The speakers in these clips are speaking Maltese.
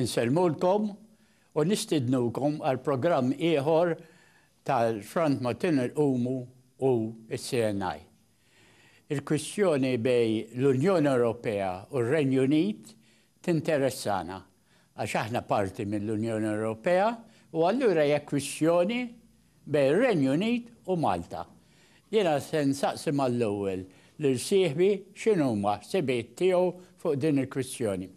Insellmulkom u nistidnukom għal programm ieħor tal-Front ma' Tunnel Qumu u s-CNI. Il-kwistjoni bejn l-Unjoni Ewropea u r-Renju Unit tinteressana għax aħna parti mill-Unjoni Ewropea u allura hija kwistjoni bejn ir-Renju Unit u Malta. Jiena se nsaqsi mal-ewwel lil sieħbi x'inhuma ħsibiet tiegħu fuq din il-kwistjoni.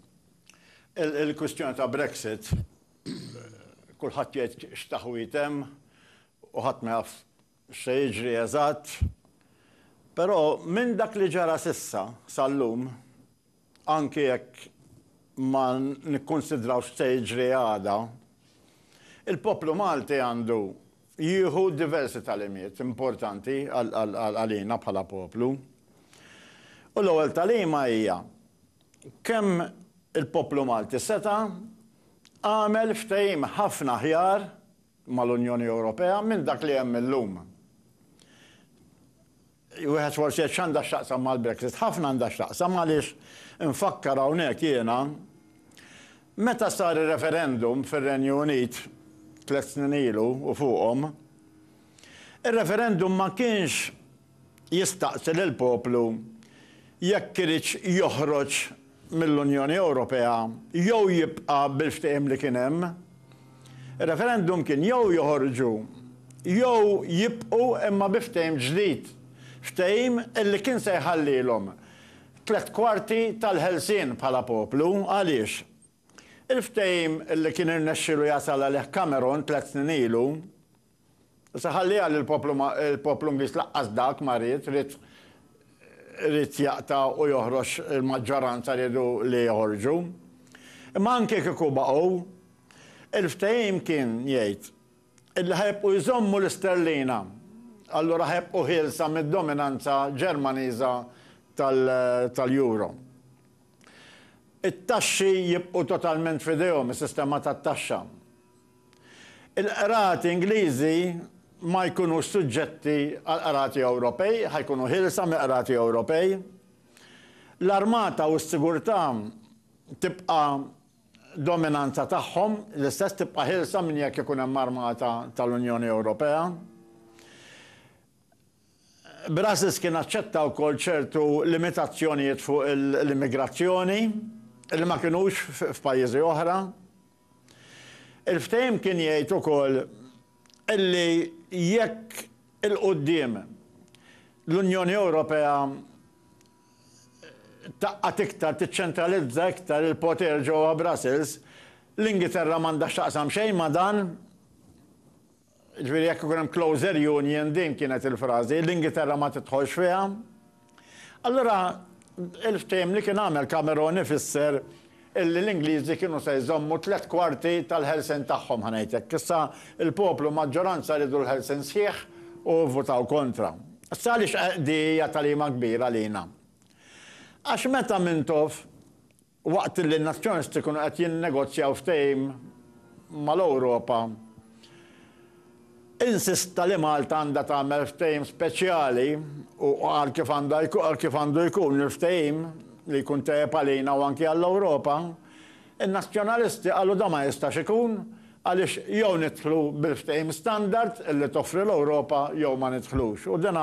Il-kwistjoni ta' Brexit, kulħadd jgħid x'taħwid hemm u ħadd ma jaf x'se jiġri eżatt, però minn dak li ġara s'issa, sal-lum, Anki jekk ma nikkunsidrawx x'se jiġri għada, il-poplu Malti għandu jieħu diversi tagħlimiet importanti għalina bħala poplu. U l-ewwel tagħlima hija kemm il-poplu Malti seta' għamel ftehim ħafna aħjar mal-Unjoni Ewropea minn dak li hemm illum. Wieħed forsi jgħid x'għandha x'taqsam mal-Brexit. Ħafna għandha x'taqsam għaliex infakkar hawnhekk jiena meta sar ir-referendum fir-Renju Unit tliet snin ilu u fuqhom, ir-referendum ma kienx jistaqsi lill-poplu jekk iridx joħroġ mill-Unjoni Ewropea jew jibqa' bil-ftehim li kien hemm. Ir-referendum kien jew joħorġu jew jibqgħu imma bi ftehim ġdid, ftehim li kien se jħallilhom tliet kwarti tal-ħelsien bħala poplu. Għaliex? Il-ftehim li kien irnexxielu jasal għalih Cameron tliet snin ilu, Issa ħalliha li l-poplu ma, il-poplu Ingliż laqqas dak ma ried, ried, ried jaqta' u joħroġ il-maġġoranza riedu li joħorġu. Imma anke kieku baqgħu, il-ftehim kien jgħid illi ħa jibqgħu jżommu l-isterlina, allura ħa jibqgħu ħielsa mid-dominanza Ġermaniża tal, tal-euro. It-taxxi jibqgħu totalment f'idejhom, is-sistema tat-taxxa. Il-qrati Ingliżi ma jkunux suġġetti għall-qrati Ewropej, ħa jkunu ħielsa mill-qrati Ewropej. L-armata u s-sigurtà tibqa' dominanza tagħhom, l-istess tibqa' ħielsa minn jekk ikun hemm armata tal-Unjoni Ewropea. Brussels kien aċċetta wkoll ċertu limitazzjonijiet fuq l-immigrazzjoni li ma kinux f'pajjiżi oħra. Il-ftehim kien jgħid ukoll li jekk 'il quddiem l-Unjoni Ewropea tgħaqqad iktar, tiċċentralizza iktar il-poter ġewwa Brussels, l-Ingilterra m'għandha x'taqsam xejn ma' dan. Jiġifieri jekk ikun hemm closer union, din kienet il-frażi, l-Ingilterra ma tidħolx fiha. Allura il-ftehim li kien għamel Cameron ifisser illi l-Ingliżi kienu se jżommu tliet kwarti tal-ħelsien tagħhom, ħa ngħid hekk. Issa l-poplu maġġoranza riedu l-ħelsien sħiħ u vvutaw kontra. Issa għaliex di hija tagħlima kbira għalina? Għax meta Mintoff Waqt li n-nazzjonisti kienu qed jinnegozjaw ftehim mal-Ewropa, insista li Malta għandha tagħmel ftehim speċjali u qal kif għandu kif għandu jkun il-ftehim li jkun tajjeb għalina u anki għall-Ewropa, in-nazzjonalisti qalu dan ma jistax ikun għaliex jew nidħlu bil-ftehim standard li toffri l-Ewropa jew ma nidħlux. U din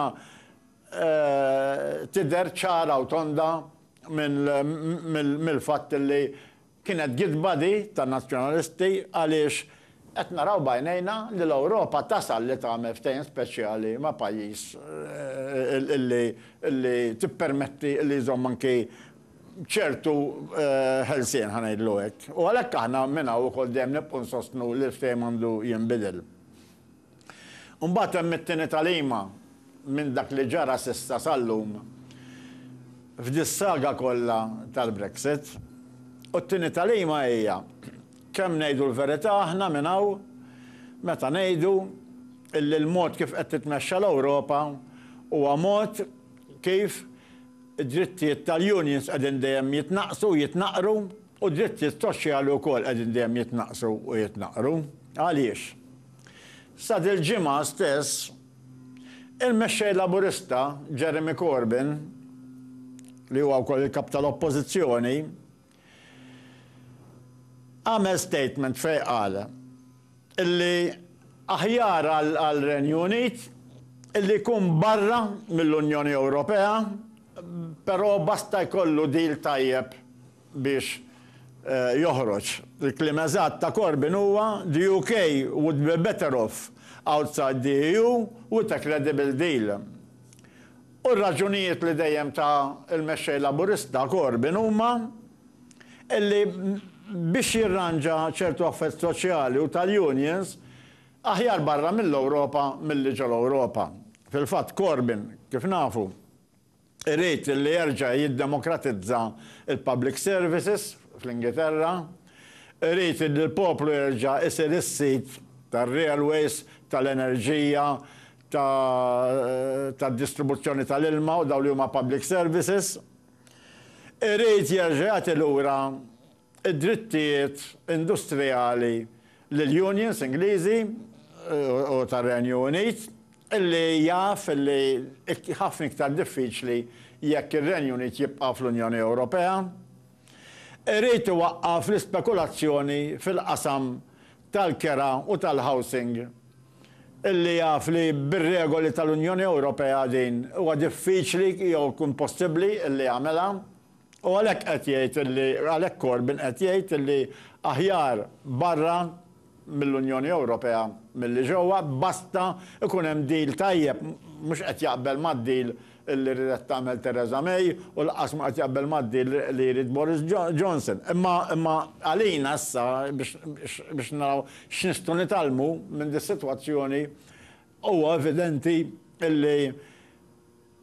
tidher ċara u tonda mill-fatt li kienet gidba di tan-Nazzjonalisti għaliex qed naraw b'għajnejna li l-Ewropa tasal li tagħmel ftehim speċjali ma' pajjiż li tippermetti li jżomm anki ċertu ħelsien, ħa ngħidlu hekk. U għalhekk aħna minn hawn ukoll dejjem nibqgħu nsostnu li l-ftehim għandu jinbidel. Imbagħad hemm it-tieni tagħlima minn dak li ġara s'issa sal-lum f'dis-saga kollha tal-Brexit. U t-tieni tagħlima hija kemm ngħidu l-verità aħna minn hawn meta ngħidu illi l-mod kif qed titmexxa l-Ewropa huwa mod kif id-drittijiet tal-unions qegħdin dejjem jitnaqqsu u jitnaqqru. U d-drittijiet soċjali wkoll qegħdin dejjem jitnaqqsu u jitnaqqru. Għaliex? Sa dil-ġimgħa stess, il-Mexxej Laburista Jeremy Corbyn, li huwa wkoll il-Kap tal-Oppożizzjoni, għamel statement fejn qal illi aħjar għar-Renju Unit illi jkun barra mill-Unjoni Ewropea, però basta jkollu deal tajjeb biex joħroġ. Il-kliem eżatt ta' Corbyn huwa, The UK would be better off outside the EU with a credible deal. U r-raġunijiet li dejjem ta l-Mexxej Laburista Corbyn huma illi biex jirranġa ċertu affett soċjali u tal-unions, aħjar barra mill-Ewropa milli ġol-Ewropa. Fil-fatt Corbyn, kif nafu, irid li jerġa' jiddemokratizza l-public services fl-Ingilterra, irid li l-poplu jerġa' jsir is-sid tar-railways, tal-enerġija, tad-distribuzzjoni tal-ilma u dawn li huma public services, irid jerġa' jagħti lura id-drittijiet industrijali lill-unions Ingliżi u tar-Renju Unit, li jaf li ħafna iktar diffiċli jekk ir-Renju Unit jibqa' fl-Unjoni Ewropea, irid iwaqqaf l-ispekulazzjoni fil-qasam tal-kera u tal-housing, li jaf li bir-regoli tal-Unjoni Ewropea din huwa diffiċli jew impossibbli li jagħmilha. U għalhekk qed jgħid illi, għalhekk Corbyn qed jgħid illi aħjar barra mill-Unjoni Ewropea milli ġewwa, basta jkun hemm deal tajjeb. Mhux qed jaqbel mad-deal illi ridet tagħmel Theresa May u lanqas mhu qed jaqbel mad-deal li jrid Boris Johnson. Imma, imma għalina issa biex, biex naraw x'nistgħu nitgħallmu minn dis-sitwazzjoni, huwa evidenti illi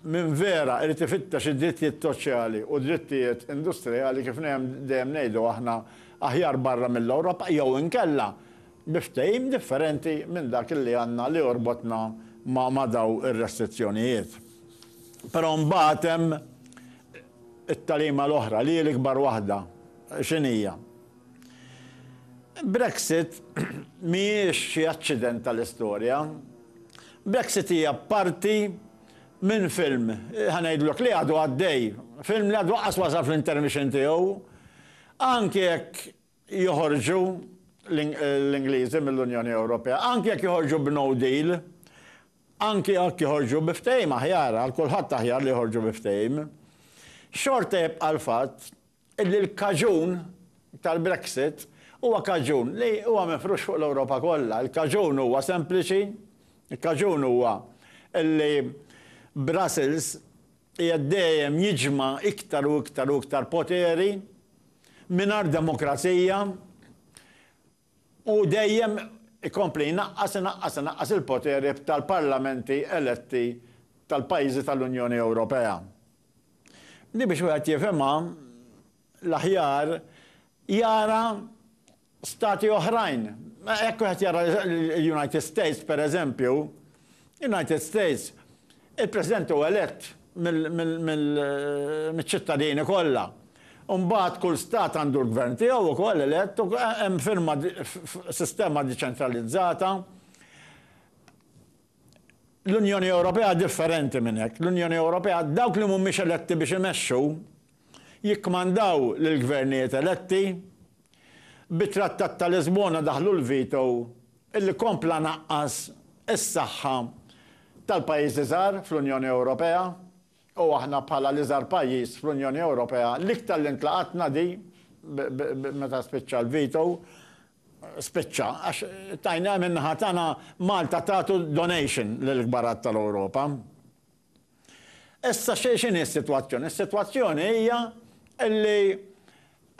Min vera irid ifittex id-drittijiet soċjali u drittijiet industrijali kif dejjem ngħidu aħna aħjar barra mill-Ewropa jew inkella bi ftehim differenti minn dak li għandna li jorbotna ma' dawn ir-restrizzjonijiet. Però mbagħad hemm it-tagħlima l-oħra li hi l-ikbar waħda. X'inhija? Brexit mhijiex xi aċċident tal-istorja. Brexit hija parti minn film, ħa ngħidlok, li għadu għaddej. Film li għadu laqqas wasal fl-intermission tiegħu. Anki jekk joħorġu l-Ingliżi mill-Unjoni Ewropea, anki jekk joħorġu b'no deal, anki jekk joħorġu bi ftehim aħjar, għal kulħadd aħjar li joħorġu bi ftehim, xorta jibqa' l-fatt Illi l-kaġun tal-Brexit huwa kaġun li huwa mifrux fuq l-Ewropa kollha. Il-kaġun huwa sempliċi, il-kaġun huwa illi Brussels qiegħed dejjem jiġma' iktar u iktar u iktar poteri mingħajr demokrazija Hu dejjem ikompli jnaqqas, inaqqas, inaqqas il-poteri tal-parlamenti eletti tal-pajjiżi tal-Unjoni Ewropea. Din biex wieħed jifhimha l-aħjar jara stati oħrajn. Jekk wieħed jara l-United States, pereżempju, United States Il-President hu elett mill-ċittadini kollha. Imbagħad kull stat għandu l-gvern tiegħu wkoll elett u hemm firma f'sistema diċentralizzata. L-Unjoni Ewropea differenti minn hekk. L-Unjoni Ewropea dawk li mhumiex eletti biex imexxu, jikkmandaw lill-gvernijiet eletti, bit-Trattat ta' Lisbona daħħlu l-veto li kompla naqqas is-saħħa tal-pajjiżi żgħar fl-Unjoni Ewropea u aħna bħala l-iżgħar pajjiż fl-Unjoni Ewropea l-iktar li ntlaqatna di meta spiċċa l-veto spiċċa għax tajna min-naħa tagħna Malta tagħtu donation lill-kbarat tal-Ewropa. Issa x'inhi s-sitwazzjoni? Is-sitwazzjoni hija li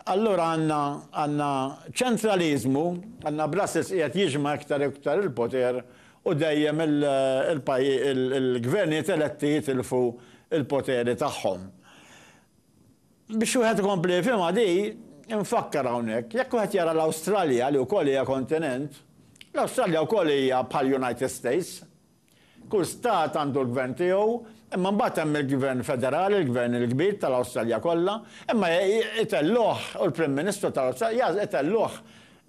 allura għandna ċentraliżmu, għandna Brussels qiegħed jiġma' iktar u iktar il-poter u dejjem il-gvernijiet eletti jitilfu l-poteri tagħhom. Biex wieħed ikompli jifhimha di, infakkar hawnhekk, jekk wieħed jara l-Awstralja li wkoll hija kontinent, l-Awstralja wkoll hija bħall-United States, Kull stat għandu l-gvern tiegħu, imma mbagħad hemm il-gvern federali, il-gvern il-kbir tal-Awstralja kollha, imma itellgħuh u l-Prim Ministru tal-Awstralja itellgħuh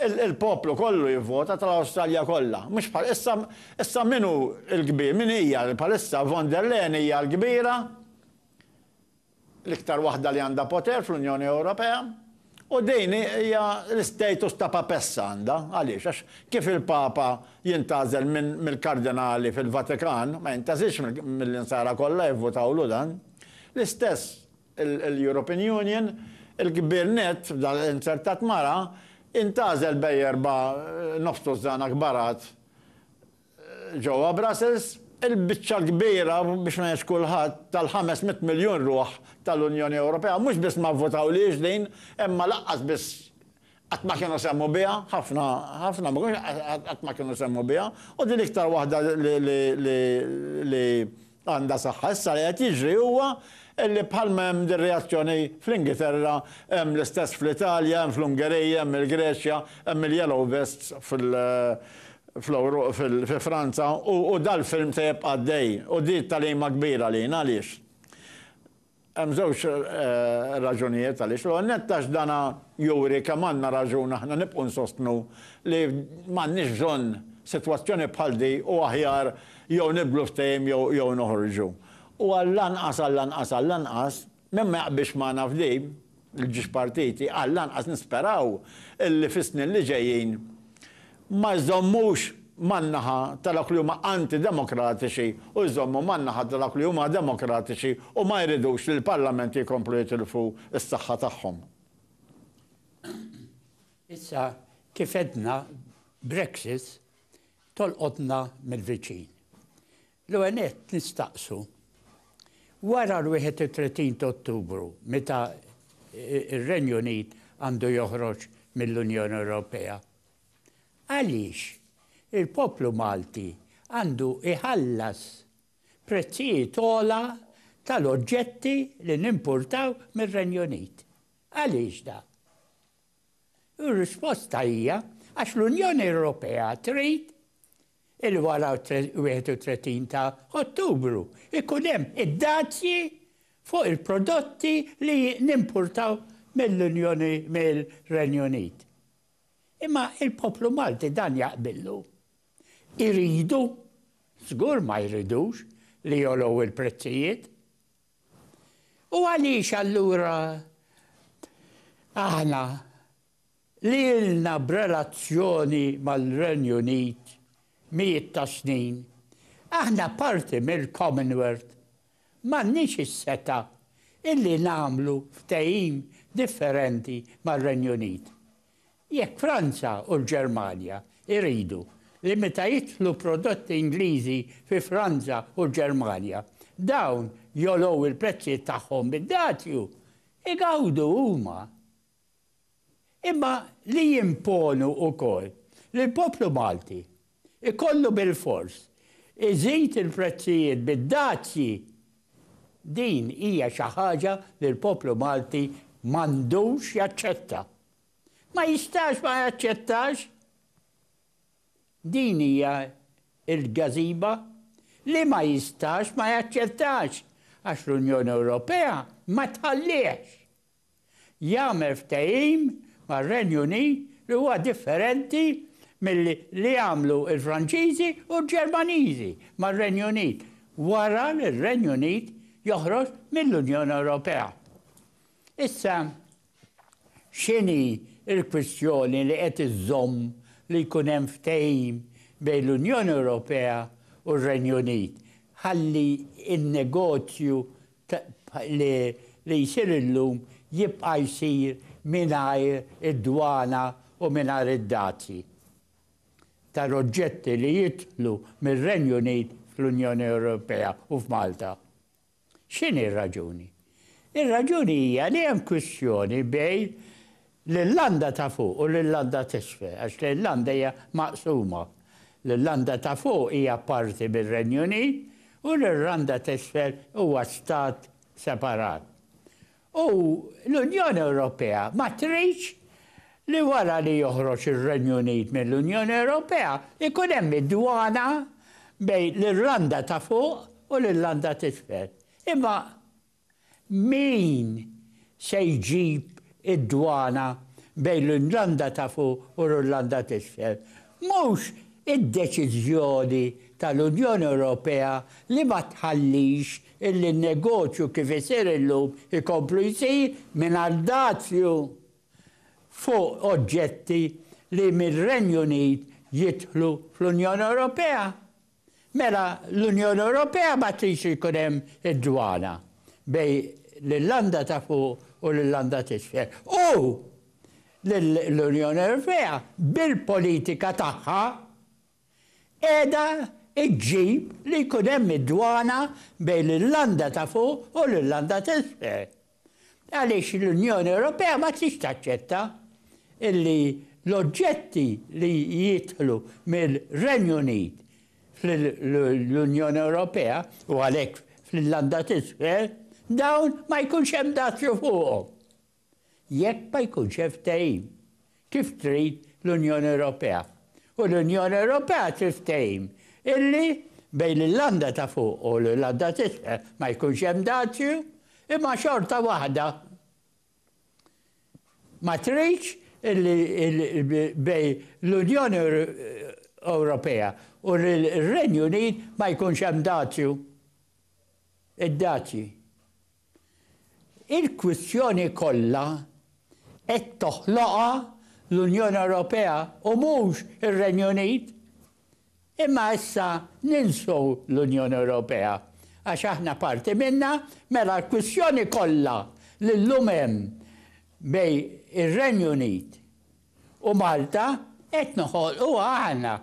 il-poplu kollu jivvota tal-Awstralja kollha. Mhux bħal issa, issa min hu l-kbir, min hija bħalissa, von der Leyen hija l-kbira? l-iktar waħda li għandha poter fl-Unjoni Ewropea, u din hija l-istatus ta' Papessa għandha. Għaliex? Għax kif il-Papa jintgħażel mill-Kardinali fil-Vatikan, ma jintgħażilx mill-Insara kollha jivvutawlu dan, l-istess l-European Union, il-kbir nett, f'dan inzertat mara, intgħażel bejn erba' nofs tużżana kbarat Ġewwa Brussels, il-biċċa l-kbira, biex ma ngħidx kulħadd, tal-ħames mitt miljun ruħ tal-Unjoni Ewropea mhux biss ma vvotawlhiex din, imma lanqas biss qatt ma kienu semgħu biha, ħafna, ħafna ma kienux qatt ma kienu semgħu biha, u din l-iktar waħda li Għandha saħħa. Issa li qed jiġri huwa li bħalma hemm din reazzjoni fl-Ingilterra, hemm l-istess fl-Italja, hemm fl-Ungerija, hemm il-Greċja, hemm il-yellow vests fi Franza u dal-film se jibqa' għaddej u di t-tagħlima kbira lina għaliex Hemm żewġ raġunijiet għaliex. L-ewwel nett għax dan juri kemm għandna raġun aħna nibqgħu nsostnu li m'għandniex bżonn sitwazzjoni bħal di u aħjar jew nibdlu l-ftehim jew noħorġu. U għall-anqas, għall-anqas, għall-anqas, min ma jaqbilx magħna f'di, Il-ġiex partiti għall-anqas nisperaw illi fis-snin li ġejjin ma jżommux man-naħa ta' dawk li huma anti-demokratiċi u jżommu man-naħa ta' dawk li huma demokratiċi u ma jridux li l-parlamenti jkomplu jitilfu s-saħħa tagħhom. Issa, kif għedna, Brexit tolqotna mill-viċin. L-ewwel nett nistaqsu, wara l-31 ta' Ottubru meta r-Renju Unit għandu joħroġ mill-Unjoni Ewropea, għaliex il-poplu Malti għandu jħallas prezzijiet ogħla tal-oġġetti li nimpurtaw mir-Renju Unit? Għaliex dan? Ir-risposta hija għax l-Unjoni Ewropea trid illi wara 31 ta' Ottubru ikun hemm id-dazji fuq il-prodotti li nimpurtaw mill-Unjoni mir-Renju Unit. Imma il-poplu Malti dan jaqbillu? Iridu? Żgur ma jridux li jolgħu l-prezzijiet. U għaliex allura aħna li ilna b'relazzjoni mal-Renju Unit mijiet ta' snin, aħna parti mill-Commonwealth, m'għandniex is-setgħa illi nagħmlu ftehim differenti mar-Renju Unit? Jekk Franza u l-Ġermanja jridu li meta jidħlu prodotti Ingliżi fi Franza u l-Ġermanja dawn jogħlow il-prezzijiet tagħhom bid-dazju, igawdu huma. Imma li jimponu wkoll li l-poplu Malti ikollu bilfors iżid il-prezzijiet bid-dazji, din hija xi ħaġa li l-poplu Malti m'għandux jaċċetta. Ma jistax ma jaċċettax! Din hija l-gazeba li ma jistax ma jaċċettax għax l-Unjoni Ewropea ma tħallihx! jagħmel ftehim mar-Renju Unit li huwa differenti milli li għamlu l-Franċiżi u l-Ġermaniżi mar-Renju Unit wara li r-Renju Unit joħroġ mill-Unjoni Ewropea. Issa, x'inhi l-kwistjoni li qed iżżomm li jkun hemm ftehim bejn l-Unjoni Ewropea u r-Renju Unit ħalli n-negozju li jsir illum jibqa' jsir mingħajr id-dwana u mingħajr id-dazji tal-oġġetti li jidħlu mir-Renju Unit fl-Unjoni Ewropea u f'Malta. X'inhi r-raġuni? Ir-raġuni hija li hemm kwistjoni bejn L-Irlanda ta' Fuq u l-Irlanda t'Isfel, għax l-Irlanda hija maqsuma. L-Irlanda ta' Fuq hija parti mir-Renju Unit u l-Irlanda t'Isfel huwa stat separat. U l-Unjoni Ewropea ma tridx li wara li joħroġ ir-Renju Unit mill-Unjoni Ewropea jkun hemm id-dwana bejn l-Irlanda ta' Fuq u l-Irlanda t'Isfel. Imma Min se jġib id-dwana bejn l-Irlanda ta' Fuq u l-Irlanda t'Isfel? Mhux id-deċiżjoni tal-Unjoni Ewropea li ma tħallix illi n-negozju kif isir illum ikomplu jsir mingħajr dazju fuq oġġetti li mir-Renju Unit jidħlu fl-Unjoni Ewropea? Mela l-Unjoni Ewropea ma tridx li jkun hemm id-dwana bejn l-Irlanda ta' Fuq u l-Irlanda t'Isfel. U l-Unjoni Ewropea bil-politika tagħha qiegħda ġġib li jkun hemm id-dwana bejn l-Irlanda ta' Fuq u l-Irlanda t'Isfel. Għaliex l-Unjoni Ewropea ma tridx taċċetta illi l-oġġetti li jidħlu mir-Renju Unit fl-Unjoni Ewropea, u għalhekk fl-Irlanda t'Isfel, dawn ma jkunx hemm dazju fuqhom jekk ma jkunx hemm ftehim. kif trid l-Unjoni Ewropea, u l-Unjoni Ewropea trid ftehim illi bejn l-Irlanda ta' Fuq u l-Irlanda t'Isfel ma jkunx hemm dazju, imma xorta waħda ma tridx illi bejn l-Unjoni Ewropea u r-Renju Unit ma jkunx hemm dazju. Id-dazji Il-kwistjoni kollha qed toħloqha l-Unjoni Ewropea u mhux ir-Renju Unit. Imma issa ninsu l-Unjoni Ewropea għax aħna parti minnha, mela l-kwistjoni kollha li llum hemm bejn ir-Renju Unit U Malta qed noħolquha aħna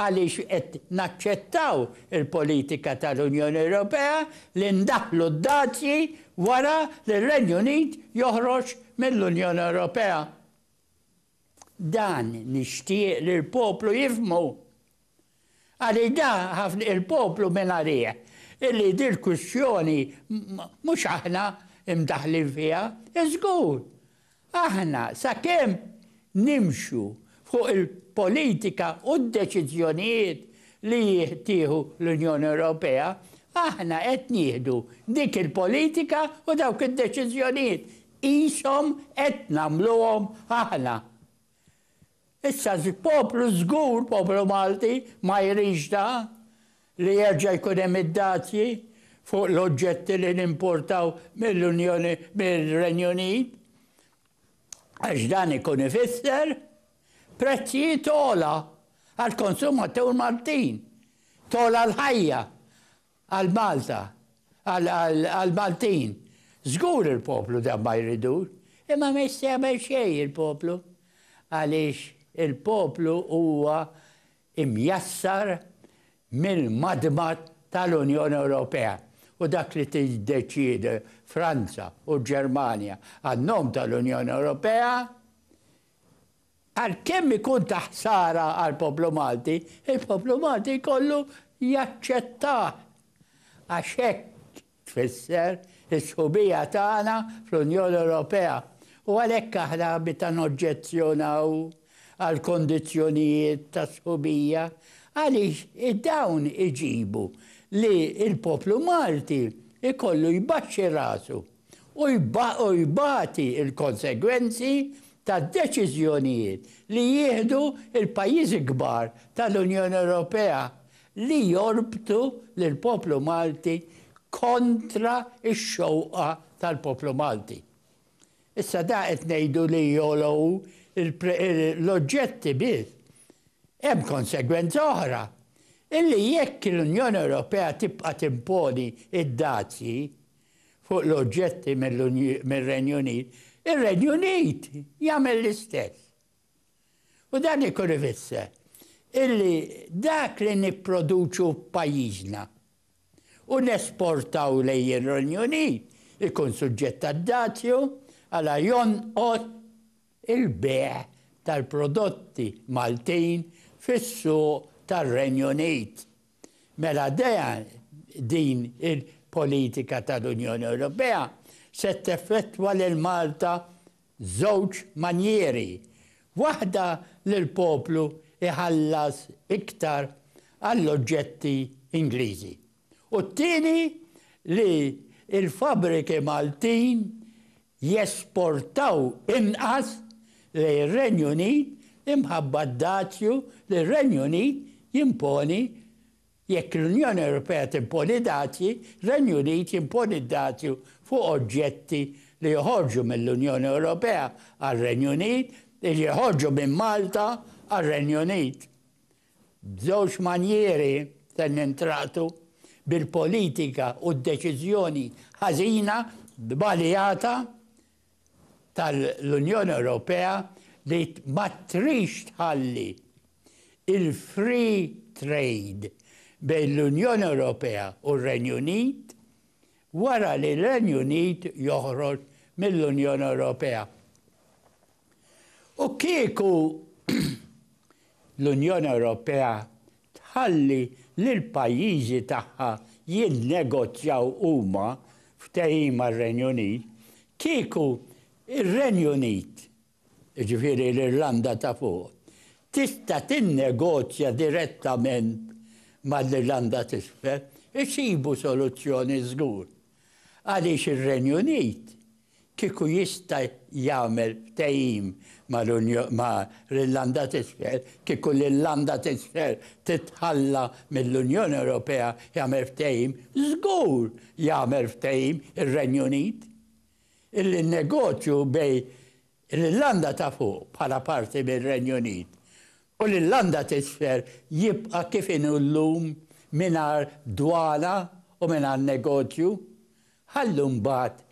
għaliex qed naċċettaw il-politika tal-Unjoni Ewropea li ndaħħlu d-dazji wara li r-Renju Unit joħroġ mill-Unjoni Ewropea. Dan nixtieq li l-poplu jifhmu Għaliex da ħafna il-poplu mingħarih, illi dil-kwistjoni mhux aħna mdaħħlin fiha, żgur, aħna sakemm nimxu fuq il-politika u d-deċiżjonijiet li tieħu l-Unjoni Ewropea, aħna qed nieħdu dik il-politika u dawk id-deċiżjonijiet qishom qed nagħmluhom aħna. Issa poplu żgur, poplu Malti ma jridx da li jerġa' jkun hemm id-dazji fuq l-oġġetti li nimportaw mill-Unjoni, mir-Renju Unit, għax dan ikun ifisser prezzijiet ogħla għall-konsumatur Maltin, togħla l-ħajja Għal Malta, għal Maltin. Żgur il-poplu dan ma jridux, imma ma jista' jagħmel xejn il-poplu għaliex il-poplu huwa imjassar mill-madma tal-Unjoni Ewropea u dak li tiddeċiedi Franza u l-Ġermanja għan-nom tal-Unjoni Ewropea Għalkemm ikun ta' ħsara għall-poplu Malti, il-poplu Malti jkollu jaċċettah għax hekk tfisser is-sħubija tagħna fl-Unjoni Ewropea u għalhekk aħna meta noġġezzjonaw għall-kondizzjonijiet tas-sħubija għaliex dawn iġibu li l-poplu Malti jkollu jbaxxi rasu. u jbati l-konsegwenzi tad-deċiżjonijiet li jieħdu l-pajjiżi kbar tal-Unjoni Ewropea li jorbtu lill-poplu Malti kontra x-xewqa tal-poplu Malti. Issa da qed ngħidu li jgħollu l-oġġetti biss. Hemm konsegwenza oħra, illi jekk l-Unjoni Ewropea tibqa' timponi d-dazji, fuq l-oġġetti mir-Renju Unit, ir-Renju Unit jagħmel l-istess. U dan ikun ifisser illi dak li nipproduċu f'pajjiżna u nesportaw lejn ir-Renju Unit ikun suġġett għad-dazju għala jonqos il-bejgħ tal-prodotti Maltin fis-suq tar-Renju Unit. Mela dea din il-politika tal-Unjoni Ewropea se teffettwa lil Malta żewġ manjieri, waħda li l-poplu jħallas iktar għall-oġġetti Ingliżi u t-tieni li l-fabbriki Maltin jesportaw inqas lejn ir-Renju Unit imħabba d-dazju li r-Renju Unit jimponi Jekk l-Unjoni Ewropea timponi dazji, r-Renju Unit jimponi d-dazju fuq oġġetti li joħorġu mill-Unjoni Ewropea għar-Renju Unit, li joħorġu minn Malta għar-Renju Unit. B'żewġ manjieri se nintraqtu, bil-politika u d-deċiżjoni ħażina, żbaljata tal-Unjoni Ewropea li ma trix tħalli il-free trade bejn l-Unjoni Ewropea u r-Renju Unit wara li r-Renju Unit joħroġ mill-Unjoni Ewropea. U kieku l-Unjoni Ewropea tħalli lill-pajjiżi tagħha jinnegozjaw huma ftehim mar-Renju Unit, kieku r-Renju Unit, jiġifieri l-Irlanda ta' Fuq, tista' tinnegozja direttament mal-Irlanda t'Isfel, isibu soluzzjoni żgur. Għaliex ir-Renju Unit kieku jista' jagħmel ftehim ma' l-Irlanda t'Isfel, kieku l-Irlanda t'Isfel titħalla mill-Unjoni Ewropea jagħmel ftehim, żgur jagħmel ftehim ir-Renju Unit, illi n-negozju bejn l-Irlanda ta' Fuq bħala parti mir-Renju Unit u l-Irlanda t'Isfel jibqa' kif inhu llum mingħajr dwana u mingħajr negozju Ħallu mbagħad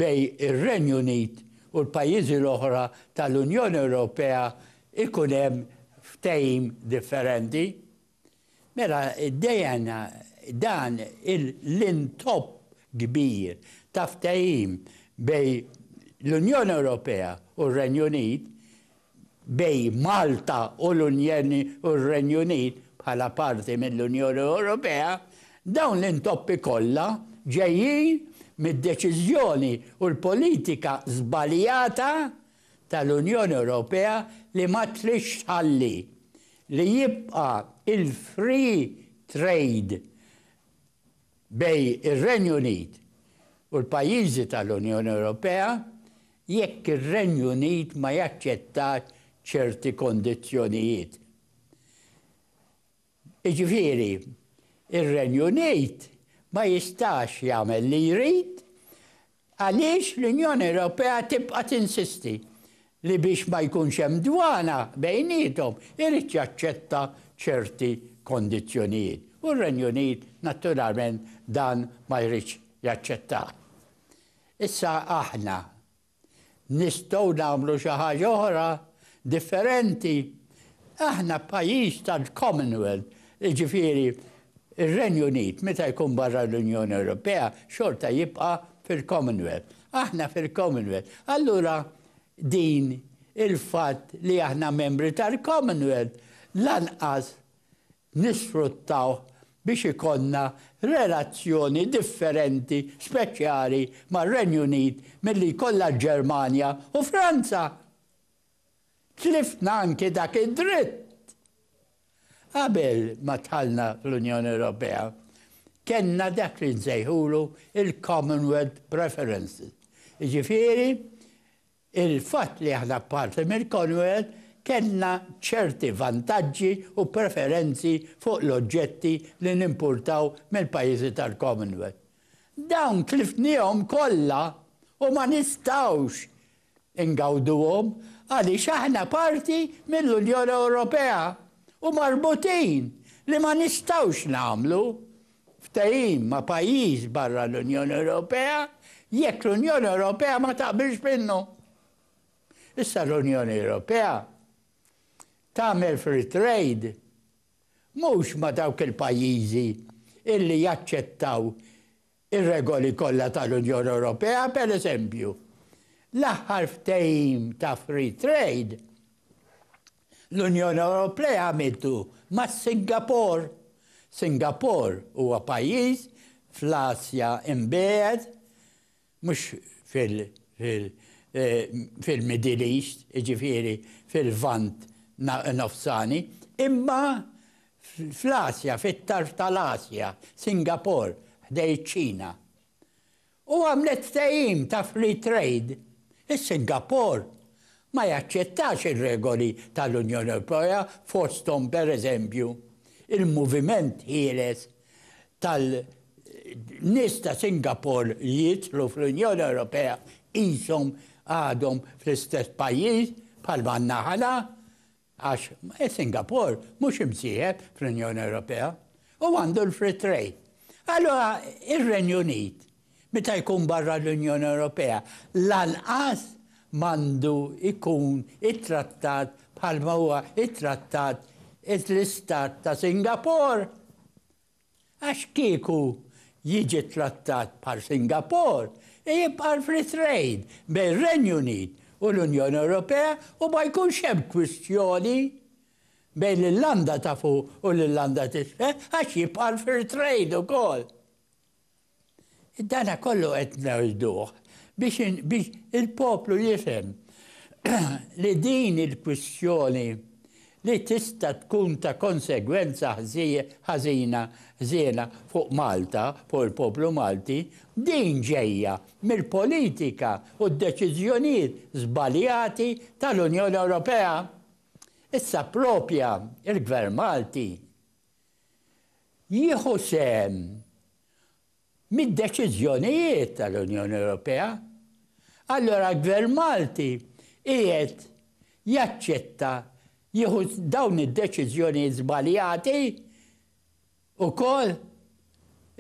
bejn ir-Renju Unit u l-pajjiżi l-oħra tal-Unjoni Ewropea jkun hemm ftehim differenti. Mela dejn dan l-intopp kbir ta' ftehim bejn l-Unjoni Ewropea u r-Renju Unit bejn Malta u r-Renju Unit bħala parti mill-Unjoni Ewropea, dawn l-intoppi kollha ġejjin mid-deċiżjoni u l-politika żbaljata tal-Unjoni Ewropea li ma tridx tħalli li jibqa' il-free trade bejn ir-Renju Unit u l-pajjiżi tal-Unjoni Ewropea jekk ir-Renju Unit ma jaċċettax ċerti kondizzjonijiet. Jiġifieri, ir-Renju Unit ma jistax jagħmel li jrid għaliex l-Unjoni Ewropea tibqa' tinsisti li biex ma jkunx hemm dwana bejniethom irid jaċċetta ċerti kondizzjonijiet. U r-Renju Unit, naturalment, dan ma jridx jaċċettah. Issa aħna nistgħu nagħmlu xi ħaġa oħra differenti? Aħna pajjiż tal-Commonwealth, jiġifieri r-Renju Unit meta jkun barra l-Unjoni Ewropea xorta jibqa' fil-Commonwealth. Aħna fil-Commonwealth. Allura din il-fatt li aħna membri tal-Commonwealth lanqas nisfruttawh biex ikollna relazzjoni differenti speċjali mar-Renju Unit milli jkollha l-Ġermanja u Franza. Tliftna anki dak id-dritt. Qabel ma dħalna fl-Unjoni Ewropea, kellna dak li nsejħulu l-Commonwealth Preferences, jiġifieri Il-fatt li aħna parti mill-Commonwealth kellna ċerti vantaġġi u preferenzi fuq l-oġġetti li nimpurtaw mill-pajjiżi tal-Commonwealth. Dawn tlifniehom kollha u ma nistgħux ingawduhom għaliex aħna parti mill-Unjoni Ewropea u marbutin li ma nistgħux nagħmlu ftehim ma' pajjiż barra l-Unjoni Ewropea jekk l-Unjoni Ewropea ma taqbilx minnu. Issa l-Unjoni Ewropea tagħmel free trade mhux ma' dawk il-pajjiżi illi jaċċettaw ir-regoli kollha tal-Unjoni Ewropea, pereżempju, l-aħħar ftehim ta' free trade, L-Unjoni Ewropea għamiltu ma' Singapor. Singapor huwa pajjiż fl-Asja Imbiegħed, mhux fil-Middle East, jiġifieri fil-Lvant Nofsani, imma fl-Asja, fit-tarf tal-Asja, Singapor, ħdejn iċ-Ċina. u għamlet ftehim ta' free trade, is-Singapore ma jaċċettax ir-regoli tal-Unjoni Ewropea fosthom, pereżempju, il-moviment ħieles tal-nies ta' Singapore li jidħlu fl-Unjoni Ewropea qishom għadhom fl-istess pajjiż bħal man-naħa l. Għax is-Singapore mhux imsieħeb fl-Unjoni Ewropea u għandu l-free trade. Allura ir-Renju Unit meta jkun barra l-Unjoni Ewropea lanqas m'għandu jkun ittrattat bħalma huwa ittrattat l-Istat ta' Singapore. Għax kieku jiġi trattat bħal Singapore, jibqa' l-free trade bejn ir-Renju Unit u l-Unjoni Ewropea u ma jkunx hemm kwistjoni bejn l-Irlanda ta' Fuq u l-Irlanda t'Isfel għax jibqa' l-free trade ukoll. Dana kollu qed ngħiduh biex il-poplu jifhem li din il-kwistjoni li tista' tkun ta' konsegwenza ħażina, ħżiena fuq Malta, fuq il-poplu Malti, din ġejja mill-politika u d-deċiżjonijiet żbaljati tal-Unjoni Ewropea. Issa proprja il-Gvern Malti jieħu sehem mid-deċiżjonijiet tal-Unjoni Ewropea, allura l-Gvern Malti qiegħed jaċċetta jieħu dawn id-deċiżjonijiet żbaljati wkoll?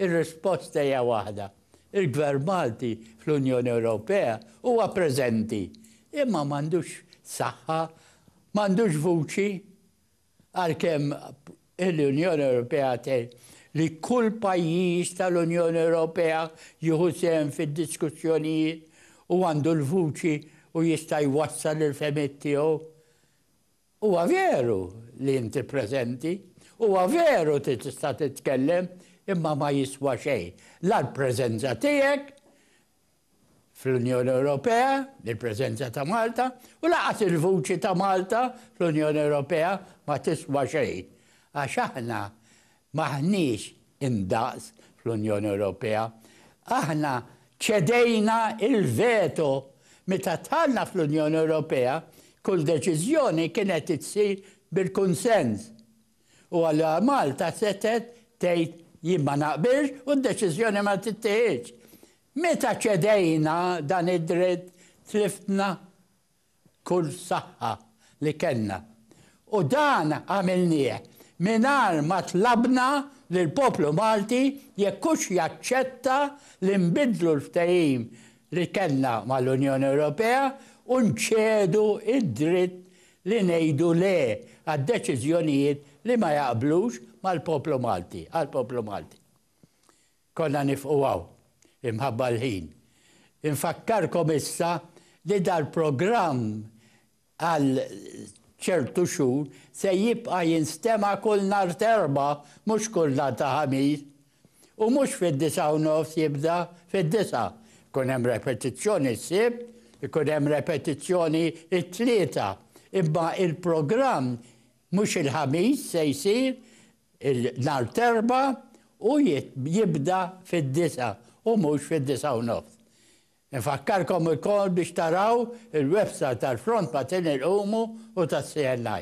Ir-risposta hija waħda, il-Gvern Malti fl-Unjoni Ewropea huwa preżenti, imma m'għandux saħħa, m'għandux vuċi Għalkemm l-Unjoni Ewropea tgħid li kull pajjiż tal-Unjoni Ewropea jieħu sehem fid-diskussjonijiet u għandu l-vuċi u jista' jwassal il-fehmiet tiegħu, huwa veru li inti preżenti, huwa veru li tista' titkellem, imma ma jiswa xejn la l-preżenza tiegħek fl-Unjoni Ewropea, il-preżenza ta' Malta, u lanqas il-vuċi ta' Malta fl-Unjoni Ewropea ma tiswa xejn, għax aħna m'aħniex indaqs fl-Unjoni Ewropea. Aħna ċedejna l-veto. Meta dħalna fl-Unjoni Ewropea, kull deċiżjoni kienet issir bil-kunsens. U allura Malta setgħet tgħid jien ma naqbilx u d-deċiżjoni ma tittieħidx. Meta ċedejna dan id-dritt tliftna kull saħħa li kellna. U dan għamilnieh mingħajr ma tlabna lill-poplu Malti jekk hux jaċċetta li nbiddlu l-ftehim li kellna mal-Unjoni Ewropea u nċedu d-dritt li ngħidu le għad-deċiżjonijiet li ma jaqblux mal-poplu Malti, għall-poplu Malti. Konna nifqu hawn, imħabba l-ħin. Infakkarkom issa li dal-programm għal ċertu xhur se jibqa' jinstema' kull nhar t'Erbgħa, mhux kull nhar ta' Ħamis, U mhux fid-disgħa u nofs jibda, fid-disgħa. Ikun hemm repetizzjoni s-Sibt, ikun hemm repetizzjoni t-Tlieta. Imma il-programm mhux il-Ħamis se jsir, nhar t-Erbgħa u jibda fid-disgħa u mhux fid-disgħa u nofs. Infakkarkom ukoll biex taraw il-website tal-Front Matern Ilqumu u tas-CNI.